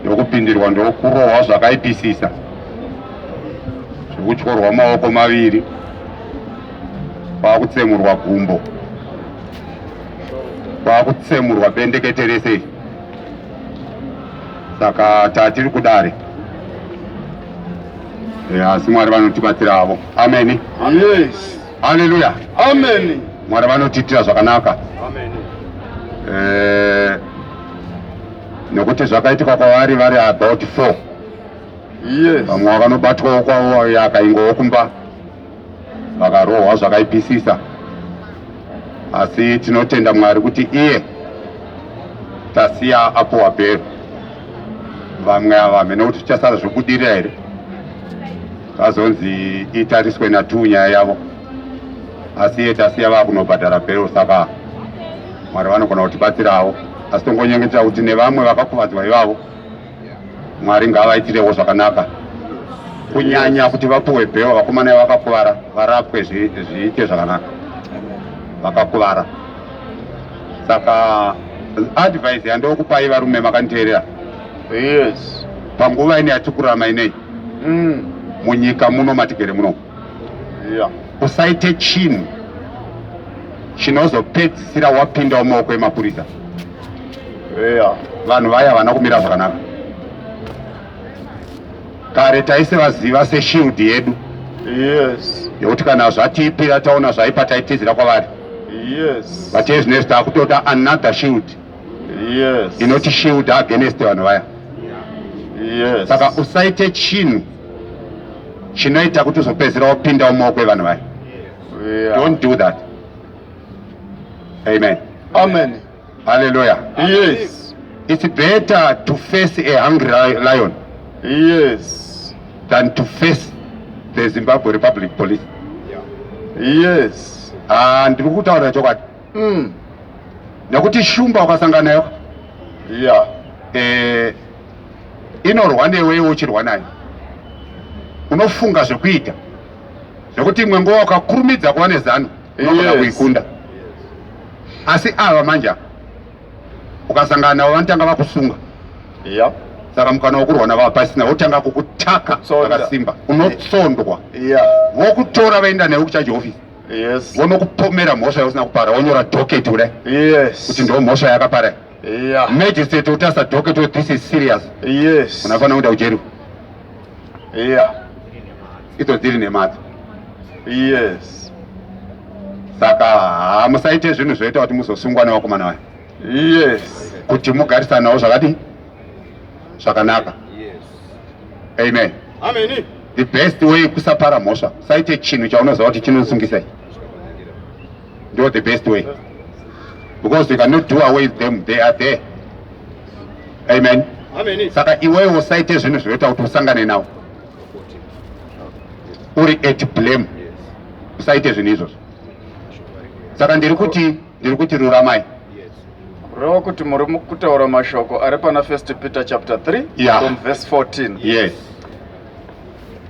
ndokupindirwa ndokurohwa zvakaipisisa zvekutyorwa maoko maviri kwakutsemurwa gumbo kwakutsemurwa bendekete rese saka tatiri kudare asi mwari vanotibatsira avo ameni yes. Haleluya. Amen. Mwari vanotiitira zvakanaka. Amen. Eh, nokuti zvakaitika kwavari vari about four yes. vamwe vakanobatwawo kwavo yakaingowo kumba vakarohwa zvakaipisisa asi tinotenda mwari kuti iye tasiya apo wabhero vamwe ava hamene kuti tichasara zvobudirira here vazonzi itariswe natuu nyaya yavo asi iye tasiya vakunobhadhara bhero saka mwari vanogona kutibatsirawo asi tongonyengetera kuti nevamwe vakakuvadzwa ivavo mwari ngavaitirewo zvakanaka kunyanya kuti vapuwe bhero vakomana vakakuvara varapwe zviite zvakanaka vakakuvara saka advice yandokupai varume makanditeerera yes panguva ine yatikurama inei mm. munyika muno matigere muno yeah. usaite chinhu chinozopedzisira wapindawo maoko emapurisa yeah. vanhu vaya havana kumira zvakanaka kare taise vaziva seshield yedu yes. yekuti kana zvatiipira taona zvaipa taitizira kwavari yes. but ezvinezvi takutoda another shield yes. inoti shield against vanhu vaya yes. saka usaite chinhu chinoita kuti uzopedzera wapinda mumaoko evanhu vaya yeah. don't do that amen amen hallelujah yes it's better to face a hungry lion yes than to face the zimbabwe republic police yeah. yes ah, ndiri kutaurira chokwadi mm. nekuti shumba wakasanga nayo yeah. eh, inorwa newewo uchirwa nayo unofunga zvekuita zvekuti imwe nguva ukakurumidza kuva nezano unogona yes. kuikunda asi ava manje ukasangana navo vanotanga vakusunga yeah saka mukana wokurwana vava pasina votanga kukutaka vakasimba unotsondwa vokutora vaenda newe kuchaji hofisi yes. vonokupomera mhosva yausina kupara wonyora doketi kudai yes. kuti ndo mhosva yakapara yeah. magistrate utasa doketi we this is serious yes. unafanira kuenda kujeri yeah. idzo dziri nemadzo yes. saka hamusaite zvinhu zvoita kuti muzosungwa nevakomana vayo yes. kuti mugarisanawo zvakadii zvakanaka amen amen the best way kusapara mhosva usaite chinhu chaunoziva kuti chinosungisa ndo the best way because you cannot do away with them they are there amen amen saka iwewe usaite zvinhu zvinoita kuti usangane nawo uri at blame usaite zvinhu izvozvo saka ndiri kuti ndiri kuti ruramai kureva kuti muri kutaura mashoko ari pana first peter chapter 3 yeah. from verse 14 yes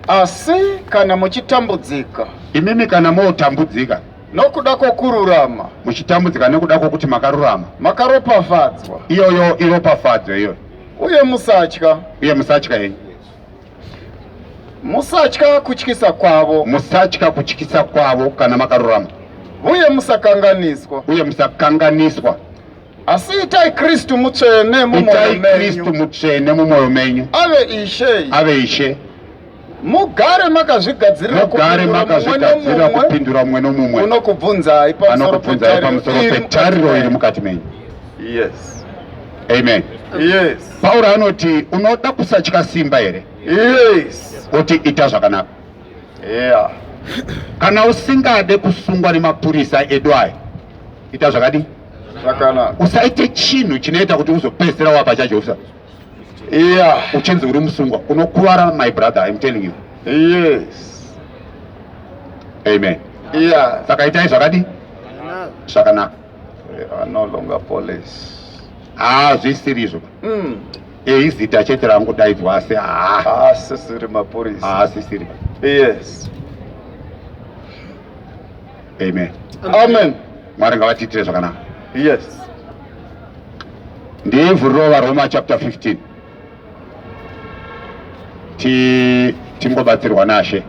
asi kana muchitambudzika imimi kana motambudzika nokuda kwokururama muchitambudzika nekuda kwokuti makarurama makaropafadzwa iyoyo iropafadzo iyoyo uye musatya uye musatya henyu Musatya kutyisa kwavo. Musatya kutyisa kwavo kana makarurama. Uye musakanganiswa. Uye musakanganiswa. Asi itai Kristu mutsvene mumwoyo menyu. Kristu mutsvene mumwoyo menyu. Ave Ishe. Ave Ishe. Mugare makazvigadzirira kupindura mumwe nomumwe anokubvunzai pamusoro petariro iri mukati menyu. Yes. Amen. Yes. Pauro anoti unoda kusatya simba here? Yes. Oti ita zvakanaka. Yeah. Kana usingade kusungwa nemapurisa edu aya, ita zvakadi zvakanaka. Usaite chinhu chinoita kuti uzopedzisira wapa chajovisa. Yeah. Uchinzi uri musungwa, unokuvara my brother, I'm telling you. Yes. Amen. Yeah. Saka itai zvakadi zvakanaka. hazvisiri izvo hmm. eh, izita chete rangodaidzwa asi haasisiri mapurisa haasisiri yes amen amen mwari ngavatiitire zvakanaka yes ndivhuriro varoma chapter 15 tingobatsirwa nashe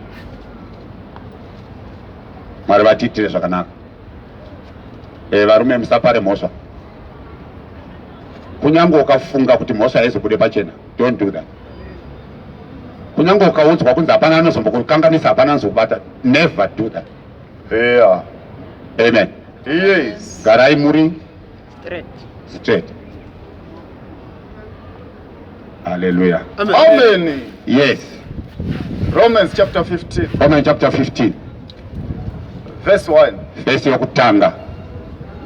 mwari vatiitire zvakanaka Eh, varume musapare mhosva. Kunyange ukafunga kuti mhosva haizobude pachena, don't do that. Kunyange ukaudzwa kunzi hapana anozombokukanganisa, hapana anozokubata, never do that. Yeah. Amen. Yes. Garai muri straight straight haleluya amen, amen. yes romans chapter 15 romans chapter 15 verse 1 verse yokutanga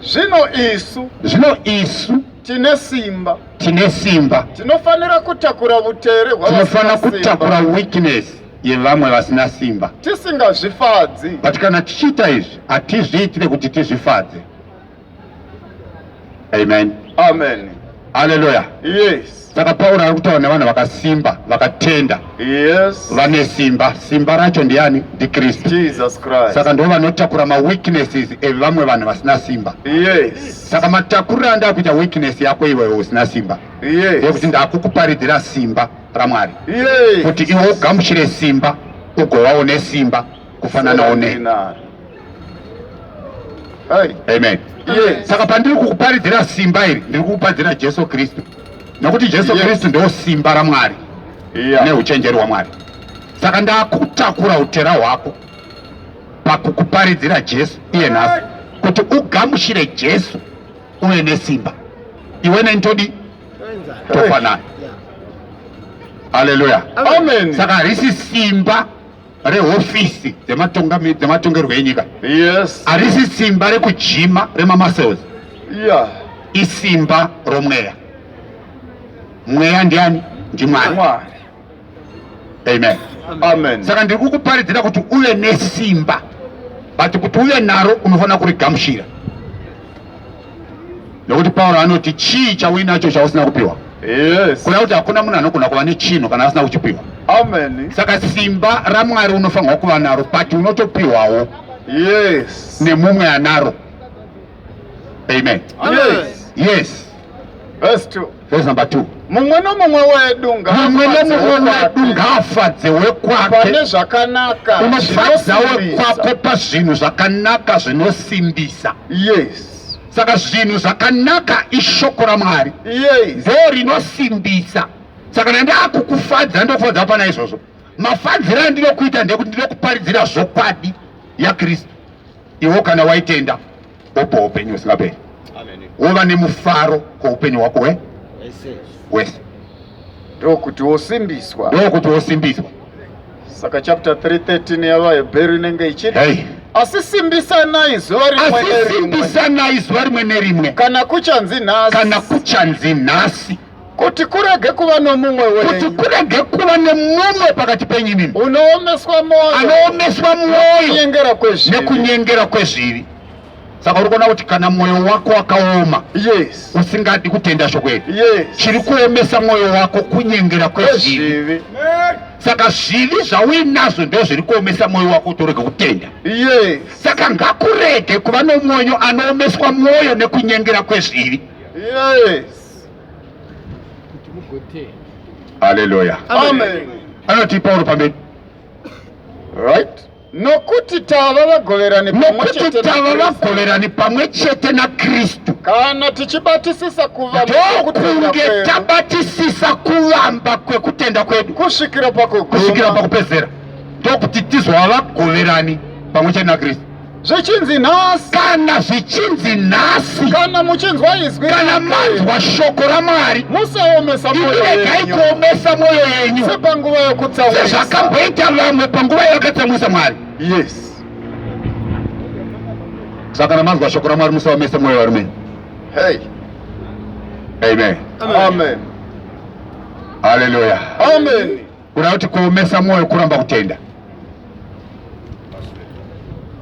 zvino isu zvino isu tine simba tine simba tinofanira kutakura vutere tinofanira kutakura weakness yevamwe vasina simba tisingazvifadzi but kana tichiita izvi hatizviitire kuti tizvifadze Amen. Amen. Hallelujah. Yes. Saka Paul ari kutaura nevanhu vakasimba, vakatenda. Yes. Vane simba. Simba racho ndiani? Ndi Kristu. Jesus Christ. Saka ndivo vanotakura ma weaknesses evamwe vanhu vasina simba. Yes. Saka matakurira anda kuita weakness yako iwe usina simba. Yes. Yekuti ndakukuparidzira simba raMwari. Yes. Kuti iwe ugamuchire simba, ugowawo nesimba. kufananawo ne amen iye saka pandiri kukuparidzira simba iri ndiri kukuparidzira jesu kristu nokuti jesu kristu ndo simba ramwari neuchenjeri hwamwari saka ndakutakura utera hwako pakukuparidzira jesu iye nhasi kuti ugamushire jesu uve nesimba iwe neni todi tofanana aleluya saka harisi simba rehofisi dzematongerwo enyika yes. arisi simba rekujima remamuscles yeah. isimba romweya mweya ndiani ndimwari amen, amen. saka ndiri kukuparidzira kuti uve nesimba but kuti uve naro unofanira kurigamushira Nokuti Pauro anoti chii chauinacho chausina kupiwa? Yes. Kuna kuti hakuna munhu anogona kuva nechinhu kana asina kuchipiwa. Amen. Saka simba raMwari unofanirwa kuva naro but unotopiwawo. Yes. Nemumwe anaro. Amen. Yes. Yes. Verse 2. That's number two. mumwe nomumwe wedu Mumwe nomumwe wedu ngaafadze wekwake pane zvakanaka unofadza wekwako pazvinhu zvakanaka zvinosimbisa yes saka zvinhu zvakanaka ishoko ramwari yes ndo rinosimbisa saka nandakukufadza ndofadza pana izvozvo mafadziro andinokuita ndekuti ndinokuparidzira zvokwadi yakristu iwo kana waitenda opo upenyu husingaperi wova nemufaro kwoupenyu hwako we wese ndokuti wosimbiswa ndokuti wosimbiswa saka chapter 313 yavahebheru inenge ichiti hey asi simbisanai zuva rimwe asi simbisanai zuva rimwe nerimwe kana kuchanzi nhasi kana kuchanzi nhasi kuti kurege kuva nomumwe wenyu kuti kurege kuva nemumwe pakati penyu imimi unoomeswa mwoyo anoomeswa mwoyo kunyengera kwezvivi nekunyengera kwezvivi saka uri kuona kuti kana mwoyo wako wakaoma yes usingadi kutenda shoko iri yes chiri kuomesa mwoyo wako kunyengera kwezvivi saka zvivi zvauinazvo ndo zviri kuomesa mwoyo wako kuti urege kutenda yes saka ngakurege kuva nomwoyo anoomeswa mwoyo nekunyengera kwezvivi yes haleluya anoti pauro pamberi right nokuti tava vagoverani nokuti tava vagoverani pamwe chete nakristu kana tichibatisisa kuvandokunge tabatisisa kuvamba kwekutenda kwedu kusvikira pakupedzera ndokuti tizova vagoverani pamwe chete nakristu zvichinzi nhasi kana zvichinzi nhasi kana muchinzwa izwi kana manzwa shoko ramwari musaomesa iregai kuomesa mwoyo yenyu sepanguva yokutsamwisa sezvakamboita vamwe panguva yavakatsamwisa mwari yes saka kana manzwa shoko ramwari musaomesa mwoyo varumenyu hey. amen amen haleluya amen, amen. Kuda kuti kuomesa mwoyo kuramba kutenda.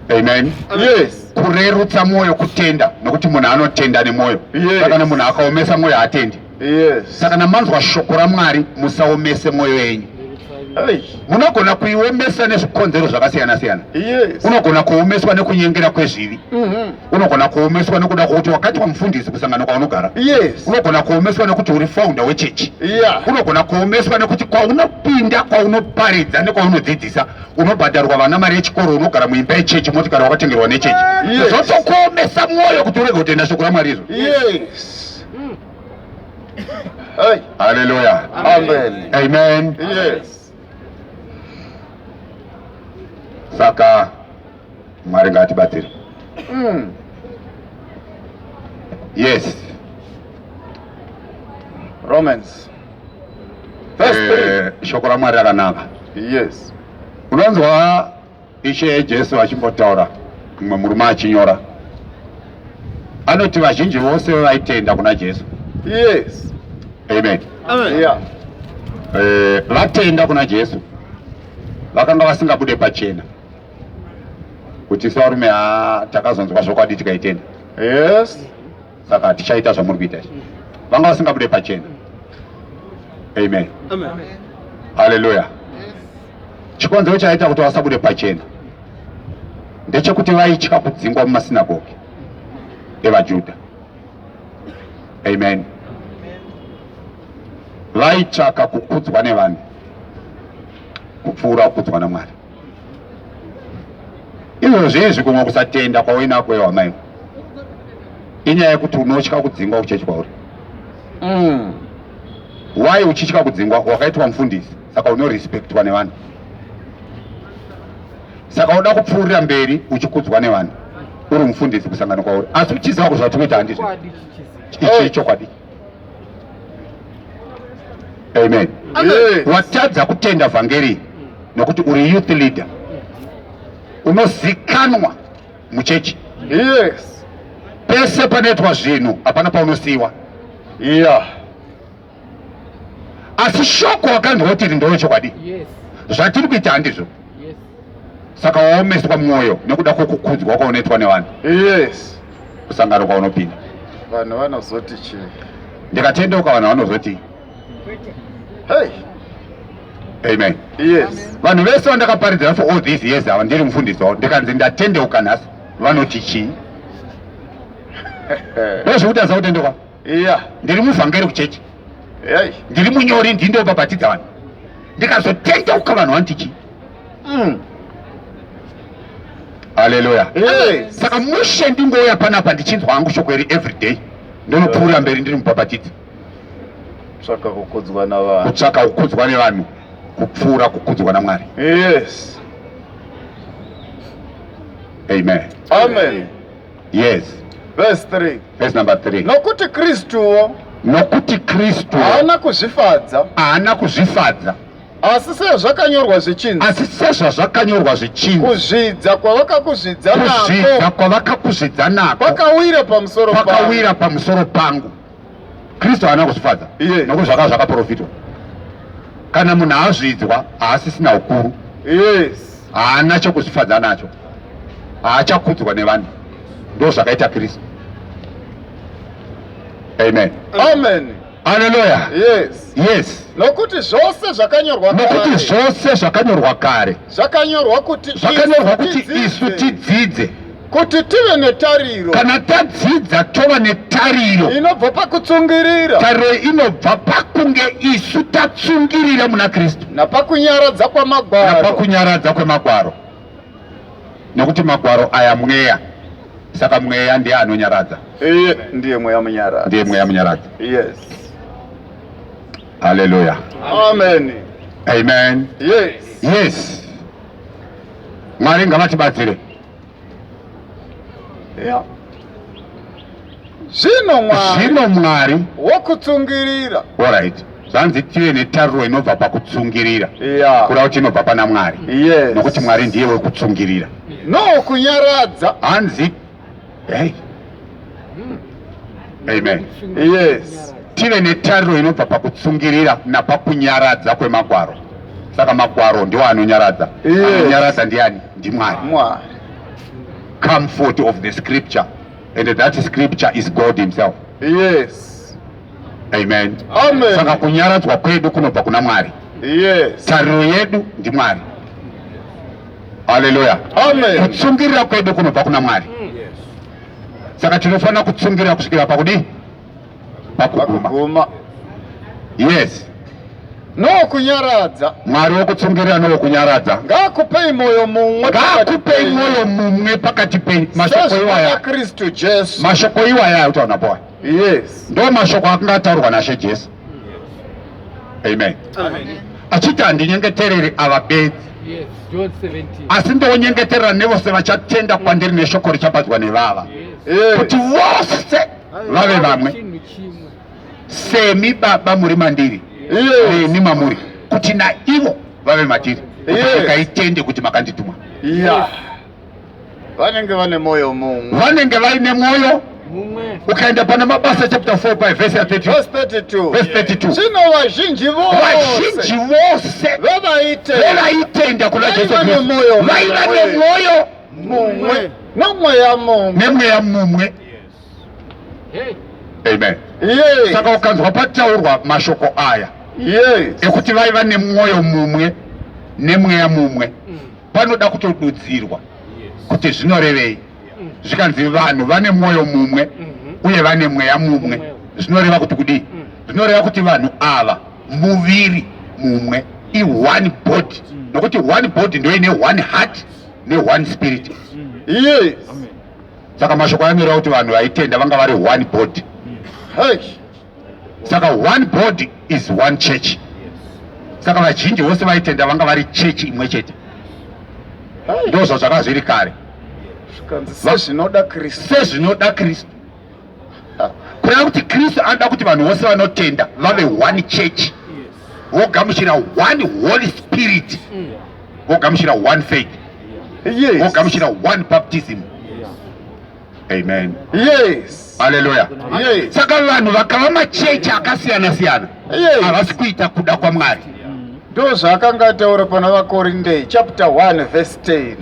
Amen. Yes. Kurerutsa mwoyo kutenda nokuti munhu anotenda nemwoyo. Yes. Saka nemunhu akaomesa mwoyo haatendi. Yes. Saka namanzwa shoko raMwari musaomese mwoyo yenyu. Munogona kuiomesa nezvikonzero zvakasiyana siyana. Yes. Unogona kuomeswa nekunyengera kwezvivi. Mm -hmm. unogona kuomeswa nekuda kwokuti wakaitwa mufundisi kusangano kwaunogara yes unogona kuomeswa nekuti uri founder wechechi yeah unogona kuomeswa nekuti kwaunopinda kwaunoparidza nekwaunodzidzisa unobhadharwa vana mari yechikoro unogara muimba yechechi motikari wakatengerwa nechechi yes. zvotokuomesa mwoyo kuti urege kutenda shoko ramwari izvo yes Hey. Hallelujah. Amen. Amen. Yes. Saka Mwari ngatibatsire. Mm. Yes. Romans. Verse eh, 3. Shoko raMwari rakanaka. Yes. Unonzwa Ishe Jesu achimbotaura mumwe murume achinyora. Anoti vazhinji vose vaitenda kuna Jesu. Yes. Amen. Amen. Yeah. Eh, vatenda kuna Jesu. Vakanga vasingabude pachena. kuti sevarume haa takazonzwa zvokwadi tikaitenda yes saka tichaita zvamuri kuita izvi vanga vasingabude pachena amen haleluya chikonzero chaita kuti vasabude pachena ndechekuti vaitya kudzingwa mumasinagogi evajudha amen vaitsvaka kukudzwa nevanhu kupfuura kukudzwa namwari izvozvi izvi kumwe kusatenda kwauinako iwe amai inyaya yekuti unotya kudzingwa kuchechi kwauri mm. why uchitya kudzingwa wakaitwa mufundisi saka unorespectwa nevanhu saka uda kupfuurira mberi uchikudzwa nevanhu uri mufundisi kusangana kwauri asi uchiziva kuti zvatikuita handizvo ichi chokwadi amen watadza kutenda vhangeri nokuti uri youth leader unozikanwa muchechi yes pese panoitwa zvinhu hapana paunosiyiwa yeah asi shoko wakanzwa kuti iri ndoo chokwadi yes zvatiri kuita handizvo yes saka waomeswa mwoyo nekuda kwokukudzwa kwaunoitwa nevanhu yes kusangano kwaunopinda vanhu vanozoti chi ndikatendeuka vanhu vanozoti hey amen yes vanhu vese vandakaparidzira for all these years ava ndiri mufundisi wavo ndikanzi ndatendeuka nhasi vanoti chii ndozvekuti aza kutendeuka iya ndiri muvhangeri kuchechi ndiri munyori ndindobabatidza vanhu ndikazotendeuka vanhu vanoti chii mm. Haleluya. Hey. Saka mushe ndingouya panapa ndichinzwa hangu shoko iri every day. Ndinopfuura mberi ndiri mubhabhatidzi. Kutsvaka kukudzwa navanhu. Kutsvaka kukudzwa nevanhu. Kupfuura kukudzwa naMwari. Yes. Amen. Amen. Yes. Verse 3. Verse number 3. Nokuti Kristuwo. Nokuti Kristu. Haana kuzvifadza. Haana kuzvifadza. Asi sezvakanyorwa zvichinzi. Asi sezvazvakanyorwa zvichinzi. Kuzvidza kwavakakuzvidza nako. Kuzvidza kwavakakuzvidza nako. Kwakawira pamusoro pangu. Kwakawira pamusoro pangu. Kristu haana kuzvifadza. Iye. Nokuti zvakanga zvakaprofitwa. Kana munhu azvidzwa haasisina ukuru. Yes. Haana chokuzvifadza nacho. Haachakudzwa nevanhu. Ndozvakaita Kristu. Amen. Amen. Haleluya. Yes. Yes. Nokuti zvose zvakanyorwa kare. Nokuti zvose zvakanyorwa kare. Zvakanyorwa kuti zvakanyorwa kuti isu tidzidze kuti tive netariro kana tadzidza tova netariro inobva pakutsungirira tariro inobva pakunge isu tatsungirira muna kristu napakunyaradza kwemagwaro napakunyaradza kwemagwaro nokuti magwaro aya mweya saka mweya ndiye anonyaradza iye ndiye mweya munyaradzi ndiye mweya munyaradzi yes haleluya amen amen yes yes mwari ngavatibatsire yeah. Zvino Mwari. Zvino Mwari. Wokutsungirira. Alright. Zvanzi tive netariro inobva pakutsungirira. Yeah. Kura kuti inobva pana Mwari. Yes. Nokuti Mwari ndiye wekutsungirira. No kunyaradza. Hanzi. Hey. Hmm. Amen. Yes. Tive netariro inobva pakutsungirira napakunyaradza kwemagwaro. Saka magwaro ndiwo anonyaradza. Yes. Anonyaradza ndiani? NdiMwari. Mwari. Comfort of the scripture. And that scripture is God himself. Yes. Amen. Amen. Saka kunyaradzwa kwedu kunobva kuna Mwari. Yes. Tariro yedu ndi Mwari. Hallelujah. Amen. Kutsungirira kwedu kunobva kuna Mwari. Yes. Saka tinofanira kutsungirira kusvikira pakudi pakuguma yes nokunyaradza mwari wokutsungirira nowokunyaradza ngaakupei mwoyo mumwe ngaakupei mwoyo mumwe pakati penyu mashoko iwaya kristu jesu mashoko iwaya autaona boa yes ndo mashoko akanga ataurwa nashe jesu amen achiti handinyengetereri ava bedzi asi ndonyengeterera nevose vachatenda kwandiri neshoko richapadzwa nevava kuti vose vave vamwe semi baba muri mandiri neni mamuri kuti naivo vave matiri kaitende kuti makandituma vanenge vane mwoyo mumwe vanenge vaine mwoyo ukaenda pana mabasa chapter 4 by verse 32 verse 32 zvino vazhinji vazhinji vose vevaitenda kuna jesu vaiva nemwoyo mumwe nemweya mumwe nemweya mumwe amen yeah. saka ukanzwa pataurwa mashoko aya yes. ekuti vaiva nemwoyo mumwe nemweya mumwe mm. panoda kutodudzirwa yes. kuti zvinorevei mm. zvikanzi vanhu vane mwoyo mumwe mm -hmm. uye vane mweya mumwe mm -hmm. zvinoreva kuti kudii mm. zvinoreva kuti vanhu ava muviri mumwe i one body mm. nokuti one body ndoine one heart ne one spirit mm. yes. Amen. saka mashoko anoreva kuti vanhu vaitenda vanga vari one body saka one body is one church saka vazhinji vose vaitenda vanga vari chechi imwe chete ndo zvazvakazviri kare sezvinoda kristu kureva kuti kristu anoda kuti vanhu vose vanotenda vave one church vogamuchira one holy spirit vogamuchira one faith vogamuchira one baptism amen yes haleluya yes. saka vanhu vakava machechi akasiyana siyana havasi yes. kuita kuda kwamwari ndo zvaakanga ataura pana vakorinde chapter 1 verse 10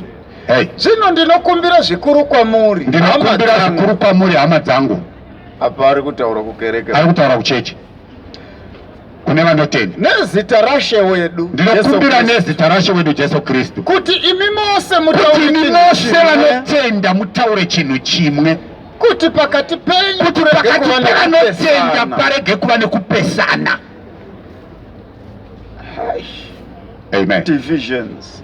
Hey. Zvino ndinokumbira zvikuru kwamuri. Ndinokumbira zvikuru kwamuri hama dzangu. Apa ari kutaura kukereke. Ari kutaura kucheche. Kune vanotenda. Nezita rashe wedu. Ndinokumbira nezita rashe wedu Jesu Kristu. Kuti imi mose mutaure chinhu chimwe. Kuti imi mose vanotenda mutaure chinhu chimwe. Kuti pakati penyu kuti pakati pevanotenda parege kuva nekupesana. Amen. Divisions.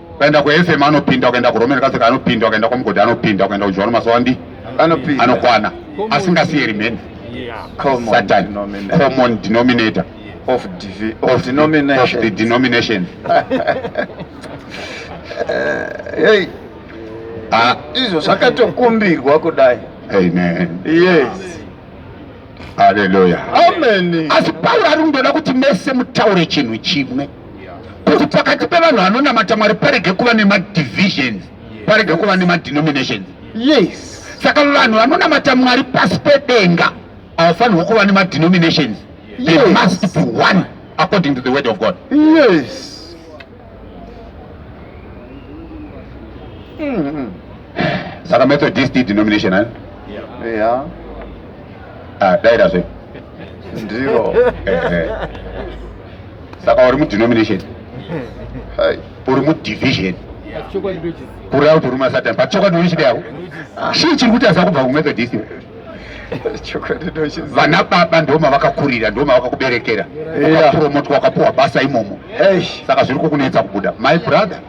ukaenda kuFM anopinda, ukaenda kuRoman Catholic anopinda, ukaenda kwaMugodi anopinda, ukaenda kuJohn Masawandi anopinda, anokwana asingasiye remaining Satan common denominator of, divi, of, of denomination of the denomination hey. Ah. izvo zvakatokumbirwa kudai amen yes Haleluya. Amen. Asi Pauro ari kungoda kuti mese mutaure chinhu chimwe kuti pakati pevanhu vanonamata Mwari parege kuva nemadivisions, parege kuva nemadenominations. Yes. Saka vanhu vanonamata Mwari pasi pedenga havafanirwa kuva nemadenominations. They Yes. must be one according to the word of God. Yes. Mm-hmm. Saka Methodist denomination, eh? Yeah. yeah. Ah, daira zve. Ndiro. Eh, eh. Saka uri mu denomination. Hai, uri mu division. Kuri out uri masatan, but chokwadi uri chidai. Shii chiri kuti aza kubva ku Methodist. vana baba ndoma vakakurira ndoma vakakuberekera ukapromotwa wakapuwa basa imomo saka zviri kukunetsa kubuda my brother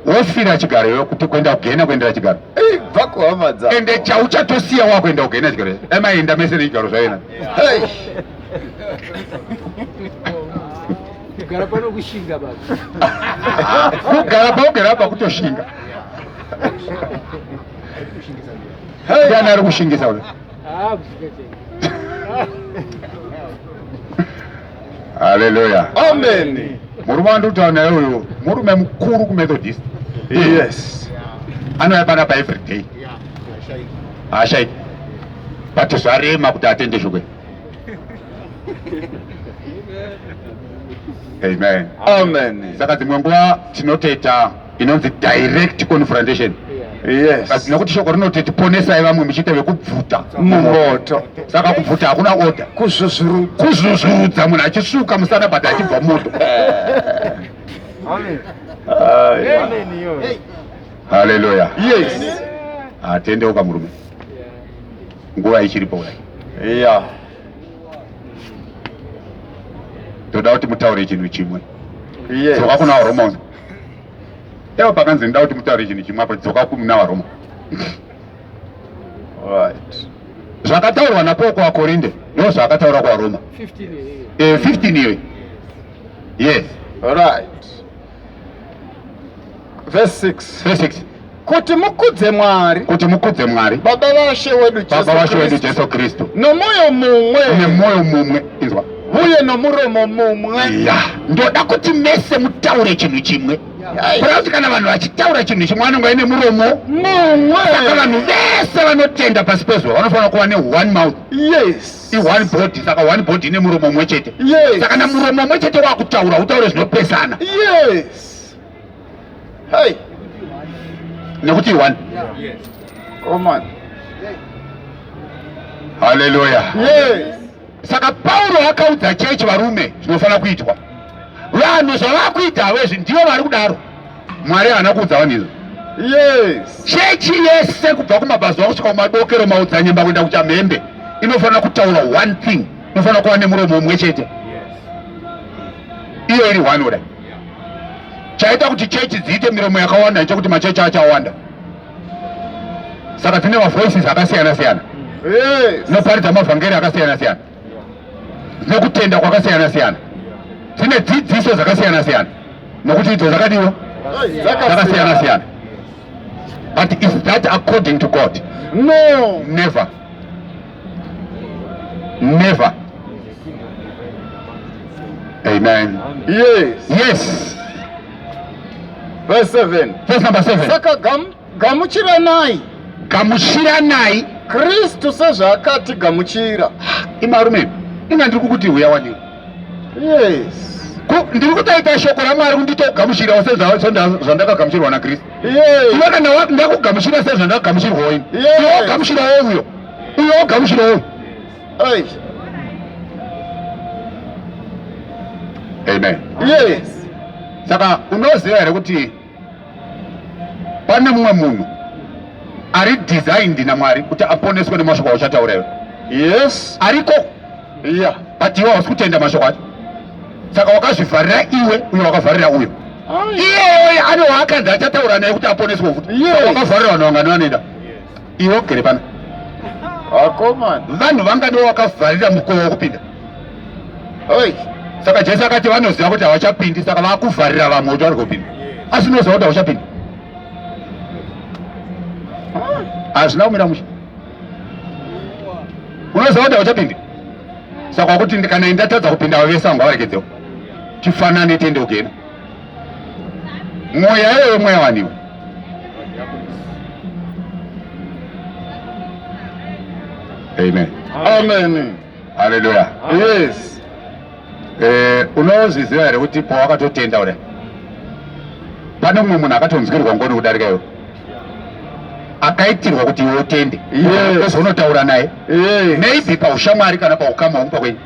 wofira chigaro iwe kuti kuenda kugena kuendera chigaro ende chauchatosiya wakuenda kugena chigaro emaenda mese nechigaro zvaena kugara pano kushinga baba kugara paugera apa kutoshinga ndiani ari kushingisa uyo haleluya amen murume wandikutaura naye uyo murume mukuru kumethodist yes anouya panapa every day haashaiki but zvarema kuti atende shoko amen amen saka dzimwe nguva tinoteta inonzi direct confrontation yes. Basi nekuti shoko rinoti tiponesai vamwe muchiita vekubvuta mumoto saka kubvuta hakuna oda kuzvuzvudza munhu achisuka musana but achibva moto haleluya yes atendeuka murume nguva ichiripo kudai yeah. toda kuti mutaure chinhu chimwe yes. soka kuna horomoni Ewa pakanzi ndoda kuti mutaure chinhu chimwe apo dzoka kumuna vaRoma. Right. Zvakataurwa naPaul kuvaKorinde ndizvo zvakataura kuvaRoma. 15 here. Eh, 15 here. Yes. Right. Verse 6. Verse 6. kuti mukudze Mwari, kuti mukudze Mwari Baba vaShe wedu Jesu, Baba vaShe wedu Jesu Kristu, nomoyo mumwe, nemoyo mumwe, inzwa, uye nomuromo mumwe. Ya, ndoda kuti mese mutaure chinhu chimwe kureva kuti kana vanhu vachitaura chinhu chimwe vanenge vaine muromo mumwe. Saka vanhu vese vanotenda pasi pezuva vanofanira kuva ne-one mouth, yes, i-one body. Saka one body ine muromo mumwe chete, yes. Saka na muromo mumwe chete wakutaura, utaure zvinopesana, yes. Hey. Nekuti one. Yeah. Yes. Oh man. Hallelujah. Yes. Saka Paulo akaudza chechi varume zvinofanira kuitwa. Vanhu zvavakuita vezvi ndivo vari kudaro. Mwari haana kuudza vanhu izvo. Yes. Chechi yese kubva kumabazuva kusvika kumadokero maudzanyemba kuenda kuchamhembe inofanira kutaura one thing. Inofanira kuva nemuromo umwe chete. Yes. Iyo iri one order. chaita kuti chechi dziite miromo yakawanda nechekuti machechi achawanda saka dzine mavoices akasiyana siyana dzinoparidza mavhangeri akasiyana siyana dzine kutenda kwakasiyana siyana dzine dzidziso dzakasiyana siyana nokuti idzo dzakadiwa dzakasiyana siyana but is that according to god no never Never. Amen. Yes. Yes. Verse 7. Verse number 7. Saka gam, gamuchiranai. Gamuchiranai. Kristu sezvaakati gamuchira. Imarume, inga ndiri kukuti huya wani. Yes. Ndiri kutaita shoko raMwari kunditogamuchirawo sezvandakagamuchirwa naKristu. iwe kana wati ndakugamuchira sei zvandakagamuchirwa ini iwe wogamuchira wo uyo uyo wogamuchira wo amen yes saka unoziva here kuti pane mumwe munhu ari designed namwari kuti aponeswe nemashoko auchataura iwe yes ariko iya but iwe hausi kutenda mashoko acho saka wakazvivharira iwe uye wakavharira uyo iyeyoye ane waakanzi achataura naye kuti aponeswe futi wakavharira vanhu vangani vanoenda iwe ugere pano vanhu vangani wakavharira mukowa wokupinda saka jesu akati vanoziva kuti havachapindi saka vakuvharira vamwe kuti vari kupinda asi unoziva kuti havachapindi hazvina kumira musha unoziva kuti hauchapindi saka kuti kana indatadza kupinda vavese vangu vavarekedzewo chifanane tiende kugena mweya iyoyo mweya waniwo amen amen Haleluya. Yes. Eh, unozviziva here kuti pawakatotenda kudai pane mumwe munhu akatonzwirwa ngoni kudarika iwe akaitirwa kuti iwe utende ozonotaura naye maybe paushamwari kana paukama hwomupa kwenyu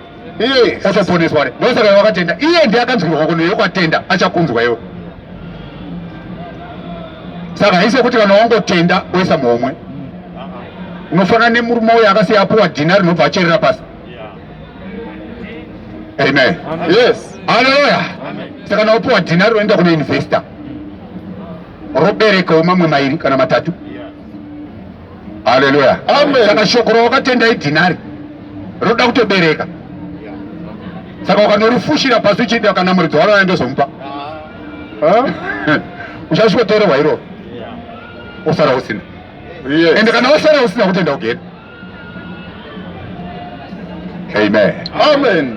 otoponeswa kudai ndosaka iwe wakatenda iye ndiye akanzwirwa ngoni iwe kwatenda achakunzwa iwe saka haisi yokuti kana wangotenda woisa muhomwe unofanira nemurume uyo akasiya apuwa dhina rinobva acherera pasi amen yes haleluya saka kana wapuwa dhina rinoenda kune investor roberekawo mamwe mairi kana matatu haleluya saka shoko rawakatenda idhinari roda kutobereka saka ukandorifushira pasi uchienda kana muridzi waro andozomupa uchasvikotorerwa iroro osara usina ende kana wasara usina kutenda kugena amen amen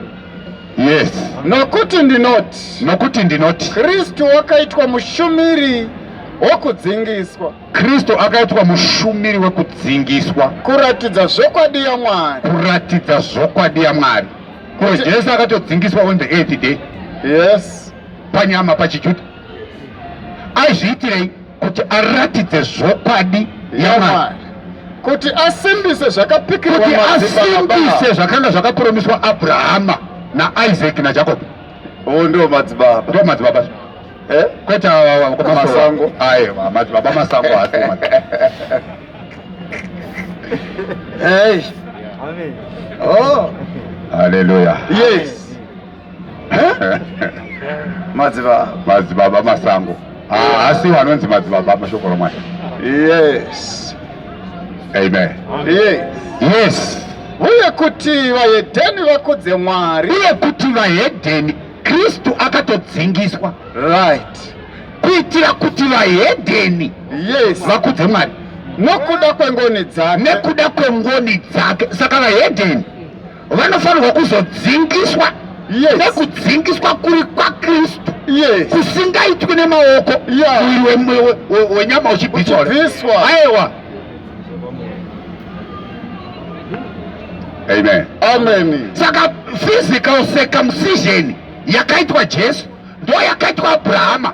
yes nokuti ndinoti nokuti ndinoti kristu wakaitwa mushumiri wokudzingiswa Kristu akaitwa mushumiri wekudzingiswa. Kuratidza zvokwadi yaMwari. Kuratidza zvokwadi yaMwari. Ko Jesu akatodzingiswa on the eighth day. Yes. Panyama pachiJuda. Aizviitirei kuti aratidze zvokwadi yaMwari. Kuti asimbise zvakapikirwa madzibaba. Kuti asimbise zvakanga zvakapromiswa Abrahama naIsaac naJakobo. Oh, ndo madzibaba. Ndo madzibaba. Eh? Kwete awa kwa masango. Aye, madzibaba masango hasi. Hey. Amen. Oh. Hallelujah. Yes. Eh? Madzibaba. Madzibaba masango. Ah, asi wanonzi madzibaba mashoko romwana. Yes. Amen. Yes. Yes. Uye kuti vahedheni vakudze Mwari. Uye kuti vahedheni Kristu akatodzingiswa. Right. Kuitira kuti vahedheni. Yes. Vakudze Mwari. Nokuda kwengoni dzake. Nekuda kwengoni dzake. Saka vahedheni. vanofanirwa kuzodzingiswa yes. nekudzingiswa kuri kwakristu yes. kusingaitwi nemaoko yeah. uyu wenyama uchibviswa aiwa amen amen saka physical circumcision yakaitwa jesu ndo yakaitwa abrahama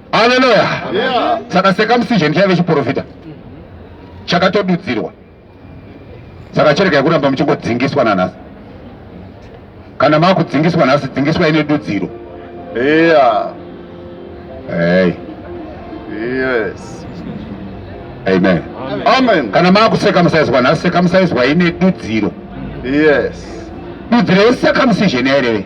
Haleluya! Saka circumcision chaive chiporofita chakatodudzirwa, saka chirega yekuramba muchingodzingiswa nanhasi. Kana makudzingiswa nhasi, dzingiswa ine dudziro. Yeah. Hey. Yes. Amen. Amen. Kana makucircumciswa nhasi, circumciswa ine dudziro. Yes. Dudziro yecircumcision yaireve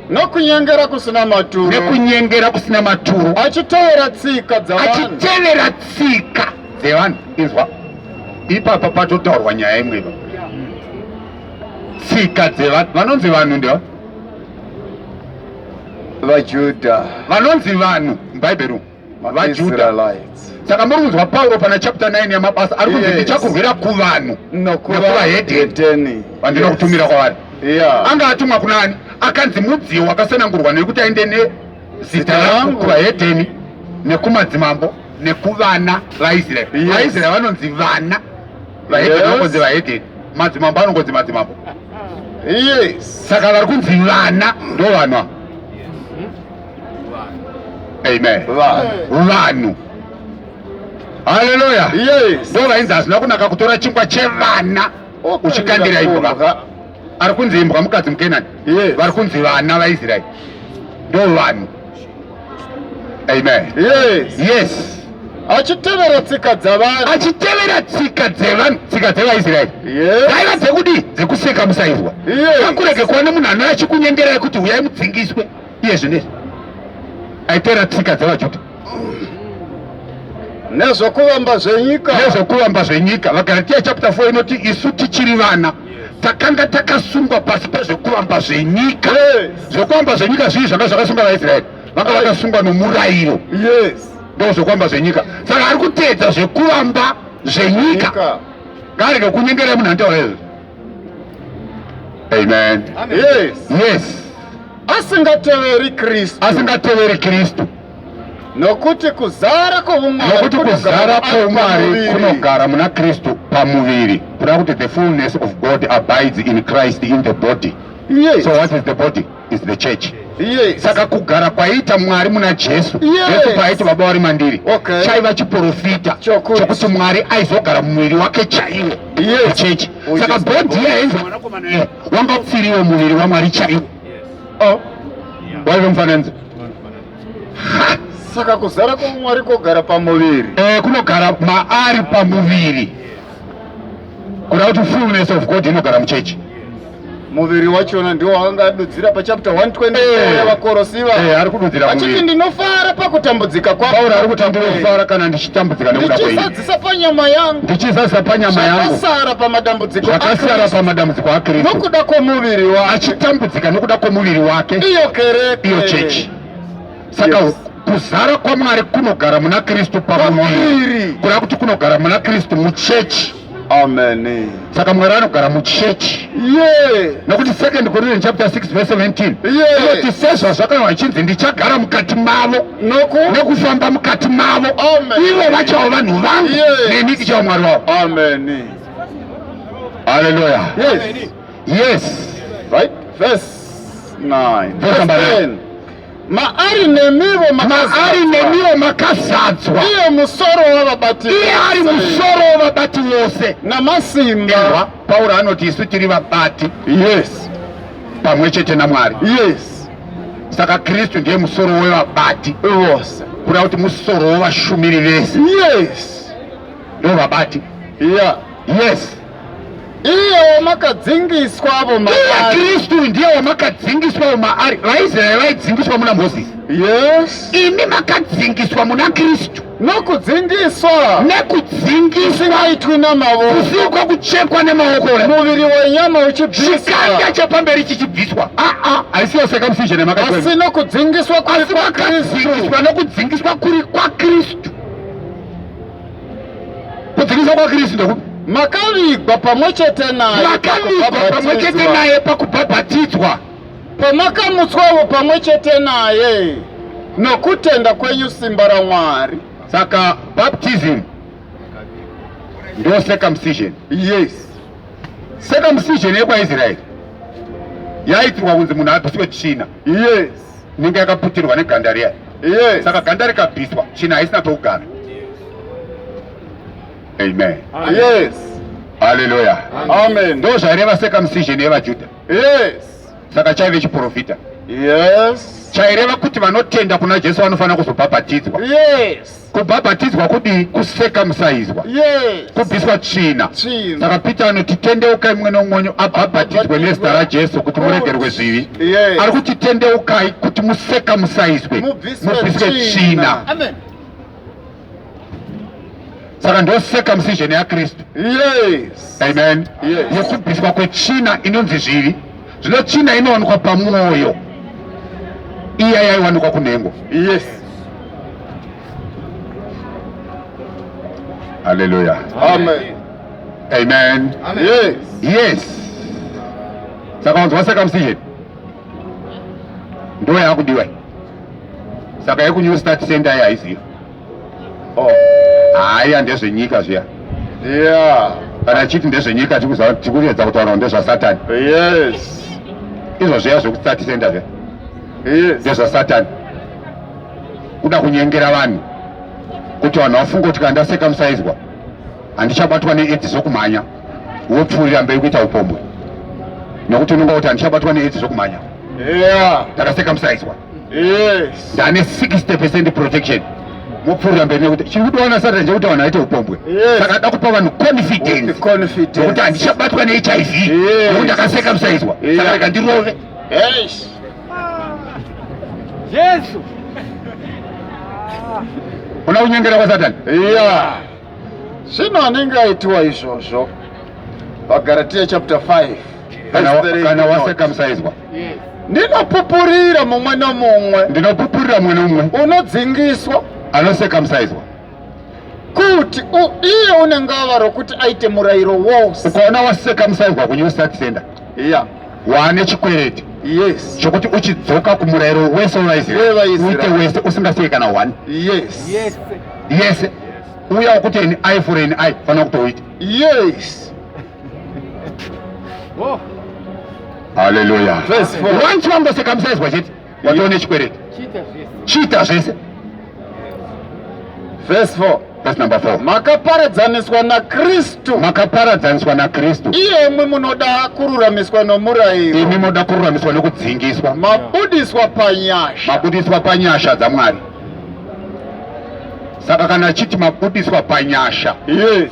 nokunyengera kusina maturo nekunyengera kusina maturo achitevera tsika dzavanhu achitevera tsika dzevanhu inzwa ipapa patotaurwa nyaya imwe ipa tsika dzevanhu vanonzi vanhu ndewa vajudha vanonzi vanhu mubhaibheri umu vaJudha. Saka muri kunzwa Pauro pana chapter 9 yamabasa ari kunzi ndichakurwira kuvanhu nokuvahedheni vandinokutumira kwavari. Anga atumwa kuna ani? Akanzi mudziyo wakasanangurwa nekuti aende nezita rangu kuvahedheni nekumadzimambo nekuvana vaIsraeri. VaIsraeri vanonzi vana vahedheni vanonzi vahedheni madzimambo anongonzi madzimambo saka vari kunzi vana ndovanwa Amen. Vanhu. Hallelujah. Yes. Bova inzi hazvina kunaka kutora chingwa chevana uchikandira imbwa. Ari kunzi imbwa mukadzi muKenani. Yes. Vari kunzi vana vaIsrael. Ndo vanhu. Amen. Yes. Yes. Achitevera tsika dzavanhu. Achitevera tsika dzevanhu, tsika dzevaIsrael. Yes. Daiva dzekudi dzekuseka musairwa. Yes. Akurege kuona munhu anouya achikunyengera kuti huyai mudzingiswe. iye zvine aitera tsika dzevajuda nezvokuvamba zvenyika nezvokuvamba zvenyika vagaratiya chapter 4 inoti isu tichiri vana takanga takasungwa pasi pezvekuvamba zvenyika zvekuvamba zvenyika zvii zvanga zvakasunga vaisraeri vanga vakasungwa nomurayiro ndo zvekuvamba zvenyika saka ari kuteedza zvekuvamba zvenyika ngaari nokunyengerei munhu andiwaezvo Amen. Amen. Yes. Yes. Asingateveri Kristu. Asingateveri Kristu. Nokuti kuzara kwoumwari nokuti kuzara kwoumwari kunogara muna Kristu pamuviri. Kuda kuti the fullness of God abides in Christ in the body. Yes. So what is the body? is the church yes. saka kugara kwaiita mwari muna jesu yes. jesu paaiti baba wari mandiri okay. chaiva chiporofita chokuti mwari aizogara mumuviri wake chaiwo yes. chechi oh, saka yes. bhodhi iya yainzi mwanakomana iye wanga upfiriwo muviri wamwari chaiwo yes. oh. yeah. waive mufananidzo saka kuzara kwamwari kogara pamuviri eh, kunogara maari pamuviri kuda kuti fullness of god inogara muchechi muviri wachona ndiwo wakanga adudzira pachapter 120 eh. yavakorosiva eh, ari kududzira achiti ndinofara pakutambudzika kwapauro ari kuti ndinofara kana ndichitambudzika nekuda kwenyu ndichizadzisa panyama yangu ndichizadzisa panyama yangu zvakasara pamadambudziko zvakasara pamadambudziko akristu nokuda kwomuviri wake achitambudzika nokuda kwomuviri wake iyo kereke iyo chechi saka yes kuzara kwamwari kunogara muna kristu pamuviri kuda kuti kunogara muna kristu muchechi Amen. Saka Mwari anogara muchechi. Yeah. Nokuti second Corinthians chapter 6 verse 17. Yeah. Kuti sezvazvakanwa achinzi ndichagara mukati mavo. Noku. Nokufamba mukati mavo. Amen. Ivo vachawo vanhu vangu. Yeah. Neni ndichawo Mwari wavo. Amen. Hallelujah. Yes. Yes. Right. Verse 9. Verse 10. Maari nemiwo maari nemiwo makazadzwa. Iye musoro wavabati. Iye ari musoro wavabati wose. Namasimba. Ewa, Pauro anoti isu tiri vabati. Yes. Pamwe chete naMwari. Yes. Saka Kristu ndiye musoro wevabati. Vose. Kuda kuti musoro wevashumiri vese. Yes. Ndovabati. Yeah. Yes. iye wamakadzingiswavo maari kristu ndiye wamakadzingiswavo maari vaisraeri vaidzingiswa muna mozisi yes imi makadzingiswa muna kristu nokudzingiswa nekudzingiswaitwi namavo kusiwo kwakuchekwa nemaoko ora muviri wenyama uchibviswachikanda chepamberi chichibviswa aa ah, ah, haisiyo circumcision yemakaasi nokudzingiswa kuri kwakristu nokudzingiswa kuri kwakristu kudzivisa kwakristu ndekupi makavigwa pamwe chete naye makavigwa pamwe chete naye pakubhabhatidzwa pamakamutswawo pamwe chete naye nokutenda kwenyu simba ramwari saka baptism ndo circumcision yes circumcision yekwaisraeri yaitirwa kunzi munhu abviswe tsvina yes inenge yakaputirwa neganda riya yes. saka ganda rikabviswa tsvina haisina pekugara amen yes haleluya amen ndo zvaireva circumcision yevajudha yes saka chaive chiprofita yes chaireva kuti vanotenda kuna jesu vanofanira kuzobhabhatidzwa yes Kubhabhatidzwa kudii? Kusekamusaizwa, yes. kubviswa tsvina. Saka Peter anoti tendeukai mumwe neumwe wenyu abhabhatidzwe nezita raJesu kuti muregerwe zvivi. Yes. Ari kuti tendeukai kuti musekamusaizwe, mubviswe tsvina. Saka ndo circumcision yaKristu. Yes. Amen. Yes. Yekubviswa kwetsvina inonzi zvivi. Zvino tsvina inowanikwa pamwoyo iya yaiwanikwa kunhengo. Yes. Hallelujah. Amen. Amen. Amen. Yes. Yes. Saka wanzwa circumcision ndo yakudiwa saka yekunyu start center yaizii haya oh. ndezvenyika zviya yeah kana chiti ndezvenyika tikuedza kutaura ndezvasatani yes izvo zviya zvekusatisenda zve yes ndezvasatani kuda kunyengera vanhu kuti vanhu vafunga kuti kana ndaseka musaizwa handichabatwa needzi zvokumhanya wopfuurira mberi kuita upombwe nokuti unonga kuti handichabatwa needzi zvokumhanya yeah. ndakaseka musaizwa yes ndane 60 percent protection mupfuurira mberi nekuti chiri kutoona satan chekuti vanhu aite upombwe saka da kupa vanhu confidence nekuti handichabatwa nehiv nekuti ndakaseka musaizwa saka rega ndirove jesu una kunyengera kwasatan ya zvino anenge aitiwa izvozvo vagaratia chapter 5 kana wasekamsaizwa ndinopupurira mumwe nomumwe ndinopupurira mumwe nomumwe unodzingiswa anosekamsaizwa kuti iye unenge ava rokuti aite murayiro wose ukaona wasekamsaizwa kunew start center iya waane chikwereti yes chokuti uchidzoka kumurayiro wese wevaiziuite wese usingasei kana one yes yes yes uya wokuteni ai fureni ai fanira kutouita yes Oh. Hallelujah. Verse 4. Once wanga circumcised wachiti watova nechikwereti. Chiita zvese. Verse 4. Verse number 4. Makaparadzaniswa naKristu. Makaparadzaniswa naKristu. Iye imwe munoda kururamiswa nomurayiro. Imi munoda kururamiswa nokudzingiswa. Mabudiswa panyasha. Mabudiswa panyasha dzaMwari. Saka kana achiti mabudiswa panyasha. Yes.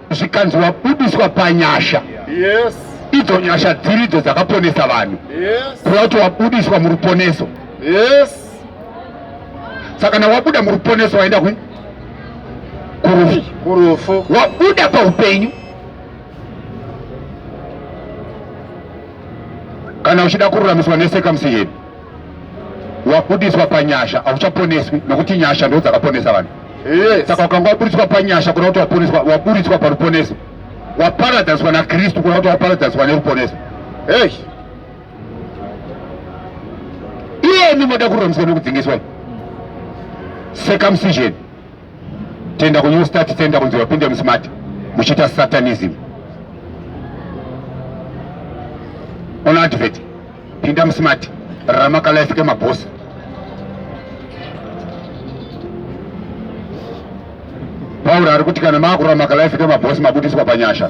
zvikanzi wabudiswa panyasha yes. idzo nyasha dziri idzo dzakaponesa vanhu yes. kuva kuti wabudiswa muruponeso yes. saka na wabuda muruponeso waenda kwi kurufu kurufu wabuda paupenyu kana uchida kururamiswa nesekamsi yedu wabudiswa panyasha hauchaponeswi nokuti nyasha ndo dzakaponesa vanhu saka wakanga waburitswa panyasha kuna kuti waponeswa waburitswa paruponeso waparadzaniswa nakristu kuna kuti waparadzaniswa neruponeso hey. iyemi moda kururamiswa nekudzingiswa circumcision tenda ku new start center kunzi vapinde musmart muchiita satanism on advert pinda musmart ramakalife kemabhosi pauro ari kuti kana maakurora makalife kemabhosi mabudiswa panyasha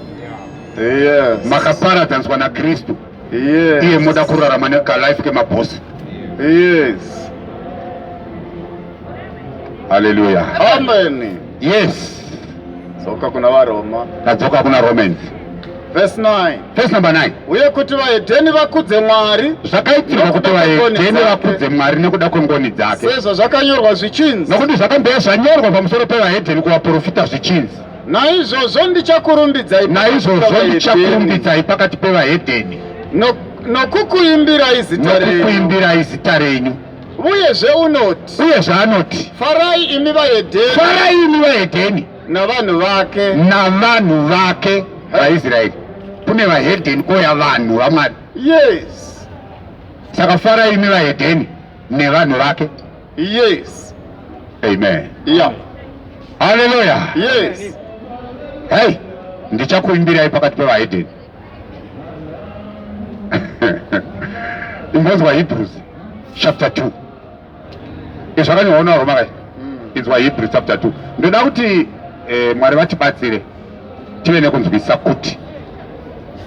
makaparadzaniswa nakristu yes. iye moda kurarama nekalife kemabosi yes. haleluya amen yes dzoka kuna varoma tadzoka kuna romans verse 9 verse number 9 uye kuti vahedheni vakudze mwari zvakaitirwa kuti vahedheni vakudze mwari nekuda kwengoni dzake sezvo zvakanyorwa zvichinzi nokuti zvakambeya zvanyorwa pamusoro pevahedheni kuvaprofita zvichinzi Naizvozvo ndichakurumbidzai naizvozvo ndichakurumbidzai pakati pevahedheni nokukuimbirai zita renyu nokukuimbirai zita renyu uyezve unoti uyezve anoti farai imi vahedheni farai imi vahedheni navanhu vake navanhu vake vaisraeri kune vahedheni kouya vanhu vamwari yes saka farai imi vahedheni nevanhu vake Yes. Amen. Yeah. Hallelujah. Yes. Hey, ndichakuimbirai pakati pevahedeni. Ingonzwa Hebrews chapter 2. Izvakanyorwa naRoma kai? Mm. Inzwa Hebrews chapter 2. Ndoda kuti eh, Mwari vatibatsire tive nekunzwisisa kuti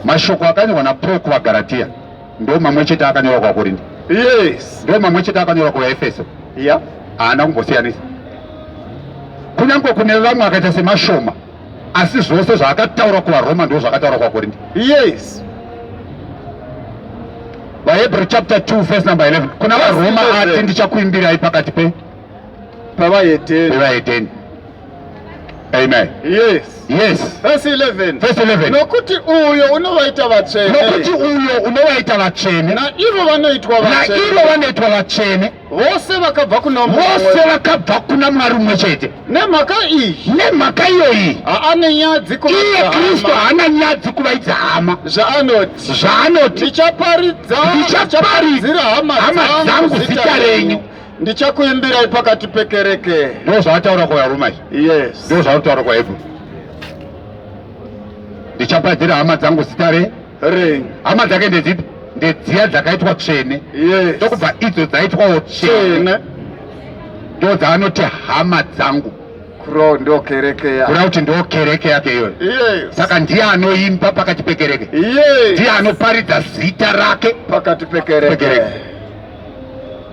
mashoko akanyorwa naPaul kuvaGalatia Ndo mamwe chete akanyorwa kwaKorinde. Yes. Ndo mamwe chete akanyorwa kwaEfeso. Yeah. Haana kumbosiyanisa. Kunyange kune vamwe akaita semashoma asi zvose zvaakataura kuvaroma ndizvo zvakataura kwakorinde yes vahebrew chapter 2 verse number 11 kuna varoma ati ndichakuimbirai pakati pe pavaedeni Amen. Yes. Yes. Verse 11. Verse 11. Nokuti uyo unovaita vatsvene. Nokuti uyo unovaita vatsvene. Na ivo vanoitwa vatsvene. Na ivo vanoitwa vatsvene. Vose vakabva kuna mumwe. Vose vakabva kuna Mwari mumwe chete. Nemhaka iyi. Nemhaka iyoyi. Haane nyadzi kuvaidza hama. Iye Kristu haana nyadzi kuvaidza hama. Zvaanoti. Zvaanoti. Ndichaparidza. Ndichaparidzira hama dzangu zita renyu. Ndichakuimbirai pakati pekereke. Ndoo zvavataura kwa Roma izvi. Yes. Ndoo zvavataura kwa Hebrew. Ndichapadzira hama dzangu zita re. Re. Hama dzake ndedzipi? Ndedziya dzakaitwa tsvene. Yes. Ndokubva idzo dzaitwawo tsvene. Ndoo dzaanoti hama dzangu. Kuro ndoo kereke yake. Kura kuti ndoo kereke yake iyoyo. Yes. Saka ndiye anoimba pakati pekereke. Yes. Ndiye anoparidza zita rake. Pakati pekereke. Pekereke.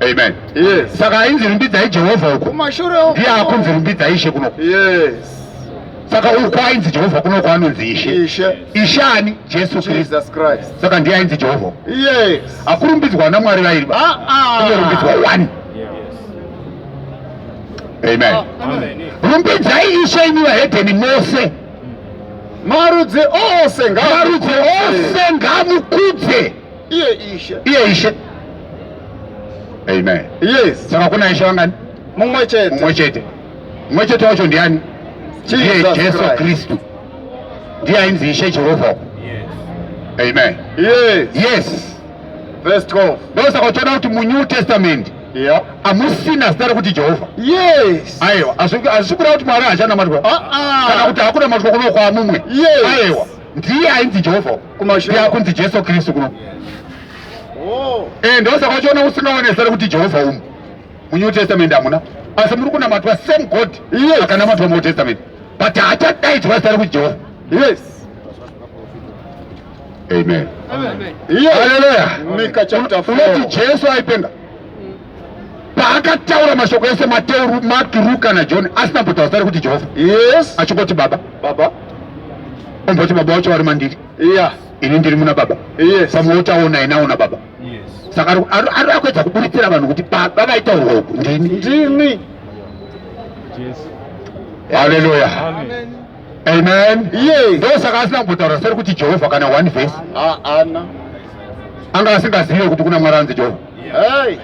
Amen. Yes. Saka ainzi rumbidzai Jehovha uko. Kumashure uko. Ndiye akunzi rumbidzai Ishe kuno. Yes. Saka uko ainzi Jehovha kuno kwaanonzi Ishe. Ishe. Ishe ani? Jesu Kristu. Jesus Christ. Saka ndiye ainzi Jehovha. Yes. Akurumbidzwa na Mwari vairi. Ah ah. Kurumbidzwa wani? Yes. Amen. Oh, amen. Rumbidzai Ishe imi vahedheni mose. Marudzi ose ngaamukudze. Marudzi ose ngaamukudze. iye ishe iye ishe amen yes saka kuna ishe vangani mumwe chete mumwe chete mumwe chete wacho ndiani ndiye jesu kristu ndiye ainzi ishe jehovha amen yes yes verse 12 ndosaka uchiona kuti munew testament yeah. amusina zita rekuti jehovha yes aiwa hazvisi kuda kuti mwari hachanamatwa ah, ah. kana kuti hakuna matwa kuno kwamumwe yes. aiwa ndiye ainzi jehovha kumashuya kunzi jesu kristu kuno oh. eh, ndosaka uchiona usingaone zita rekuti jehovha umu munew testament hamuna asi muri kunamatwa same god akanamatwa muold testament but haachadaidzwa zita rekuti jehovha yes amen haleluya unoti jesu aipenga paakataura mashoko ese mateu mark ruka najohn asina kutotaura sari kuti jehovha yes achingoti baba baba omboti baba wacho vari mandiri iya yeah. ini ndiri muna baba yes. pamwe wotaona inaona baba yes. saka ari akuedza kuburitsira vanhu kuti baba vaitaurwa uku ndini ndini haleluya amen ndo saka asina kumbotaura seri kuti jehovha kana one vhesi anga asingazive kuti kuna mwari anzi jehovha Hey.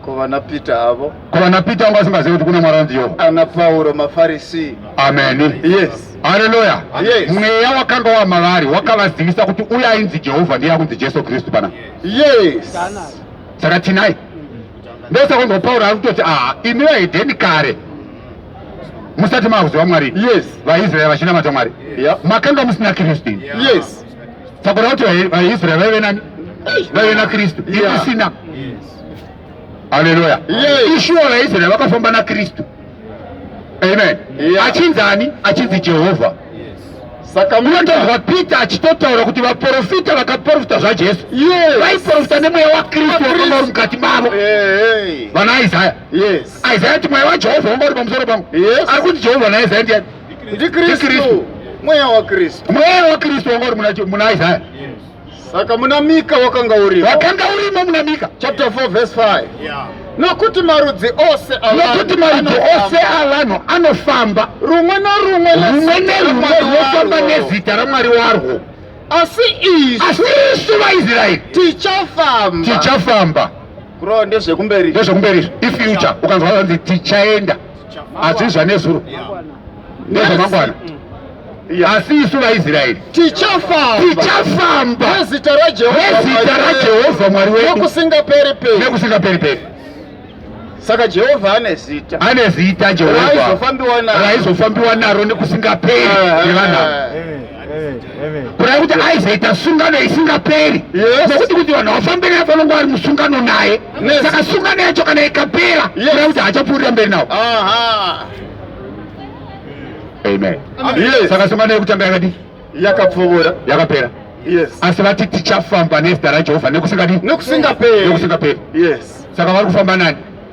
Ko vana Peter avo. Ko vana Peter avo vasingazivi kuti kuna Mwari anzi Jehovha. Ana Pauro maFarisi. Amen. Yes. Haleluya. Yes. Mweya wakanga wa mavari wakavazivisa kuti uye ainzi Jehovha ndiye akunzi Jesu Kristu pana. Yes. Saka tinai. Ndosaka ndo Pauro ari kutoti ah imi vaedheni kare musati makuziva Mwari. Yes. VaIsraeri vachinamata Mwari. Yeah. Makanga musina Kristu. Yes. Takura kuti vaIsrael vaive nani? Vaive naKristu. Isina. Haleluya. Ishuwa vaIsrael vakafamba naKristu. Amen. Achinzi ani? Achinzi Jehovha. Saka munotonzwa Peter achitotaura kuti vaprofita vakaprofita zvaJesu vaiprofita nemweya waKristu wakanga uri mukati mavo. Vana Isaya. Isaya kuti mweya waJehovha wanga uri pamusoro pangu. Ari kuti Jehovha naIsaya ndiani? ndikristu mweya wakristu mweya wakristu wanga uri muna- muna isaya saka muna mika wakanga urimo wakanga urimo muna mika chapter 4 verse 5 nokuti marudzi ose avanhu nokuti marudzi anofamba. ose avanhu anofamba rumwe norumwe rumwe nerumwe rwofamba nezita ramwari warwo asi isu asi isu vaisraeri tichafamba tichafamba Bro ndezvekumberi. Ndezvekumberi izvo. I future ukanzwa vanzi tichaenda. Asi zvanezuro. Ndezvamangwana. Asi isu vaIsraeri tichafamba tichafamba nezita raJehovha Mwari wedu nekusingaperi peri nekusingaperi peri. Saka Jehovha ane zita, ane zita Jehovha raizofambiwa naro nekusingaperi. kureva kuti aizoita sungano isingaperi nokuti kuti vanhu vafambe naye vanonga vari musungano naye saka sungano yacho kana ikapera kureva kuti haachapfuurira mberi nawo amen saka sungano yekutanga yakadii yakapfuura yakapera asi vati tichafamba nezita rajehovha nekusingadi nekusingaperi saka vari kufamba nani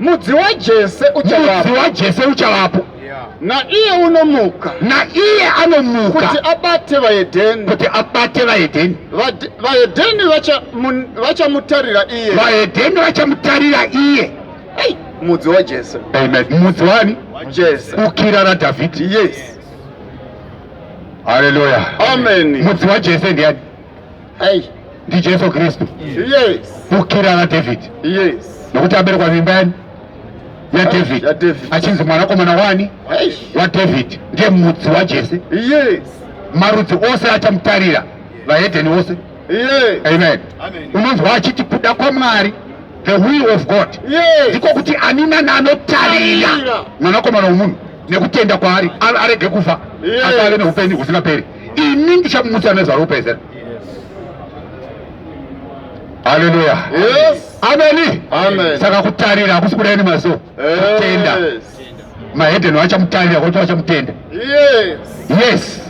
mudzi wajese uchavapo mudzi wajese uchavapo naiye unomuka naiye anomuka kuti abate vaedheni kuti abate vaedheni vaedheni vachamutarira iye vaedheni vachamutarira iye mudzi wajese amen mudzi wani jese ukira radhavhidhi yes haleluya amen mudzi wajese ndiani Eish. ndijesu kristu Yes. kukira nadhavhidhi Yes. nokuti aberekwa mimba yani yadhavhidhi yaDhavhidhi. achinzi mwanakomana wani Eish. wadhavhidhi ndiye mudzi wajese Yes. marudzi ose achamutarira vahedheni ose Yes. amen Amen. unonzwa achiti kuda kwamwari the will of god Yes. ndiko kuti ani nani anotarira Tarira. mwanakomana womunhu nekutenda kwaari a- arege kufa Yes. asi ave neupenyu husingaperi ini ndichamutsa nezvaropa izera haleluya ameni saka kutarira hakusi kudai nemaziso kutenda mahedheni vachamutarira kuti vachamutenda yes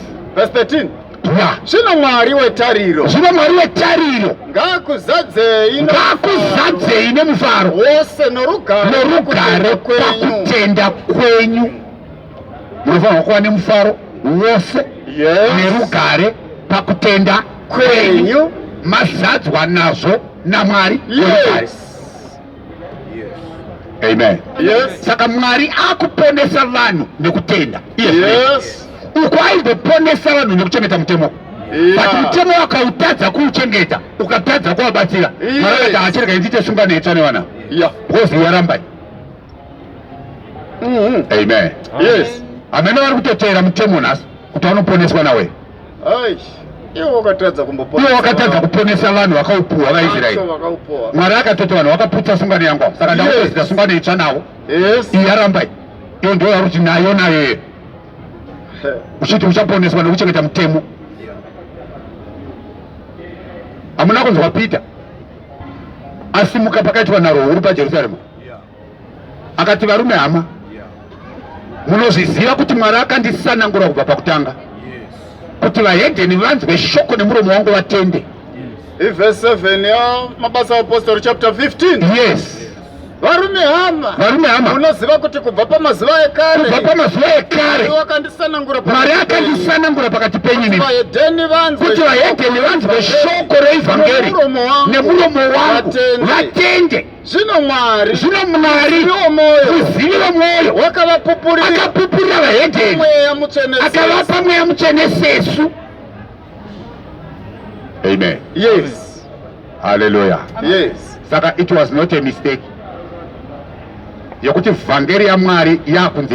ya zvino mwari wetariro zvino mwari wetariro ngakuzadzei ngakuzadzei nemufaro wose norugare pakutenda kwenyu munofanirwa kuva nemufaro wose nerugare pakutenda kwenyu mazadzwa nazvo namwari amen saka mwari akuponesa vanhu nekutenda uko aizoponesa vanhu nekuchengeta mutemo but mutemo wakautadza kuuchengeta ukatadza kuvabatsira mwari akaita achirega inziite sunga netsva nevana because yarambai Mm-hmm. Amen. Yes. Amene vari kutoteera mutemo nhasi kuti anoponeswa nawe. Iwo wakatadza kumboponesa. Iwo wakatadza kuponesa vanhu vakaupuwa vaIsraeri. Mwari akatoti vanhu vakaputsa sungano yangu. Saka ndakutozita sungano itsva nawo. Yes. Iya rambai. Iyo ndiyo yakuti nayo nayo. Uchiti uchaponeswa nekuchengeta mutemo. Hamuna kunzwa Peter. Asimuka pakaitwa nharo huru paJerusarema. akati varume hama munozviziva kuti mwari akandisanangura kubva pakutanga kuti vahedheni vanzwe shoko nemuromo wangu vatende ivhese 7 yamabasa aapostori chapter 15 yes varume hama varume hama unoziva kuti kubva pamazuva ekare kubva pamazuva ekare wakandisanangura mwari akandisanangura pakati penyu kuti vahedheni vanzwe shoko reivhangeri nemuromo wangu vatende zvino mwari zvino mwari ziviwo mwoyo kuziviwo mwoyo wakavapupurira akapupurira vahedheni mweya mutsvene akavapa mweya mutsvene sesu amen yes haleluya yes saka it was not a mistake yokuti vhangeri yamwari yakunze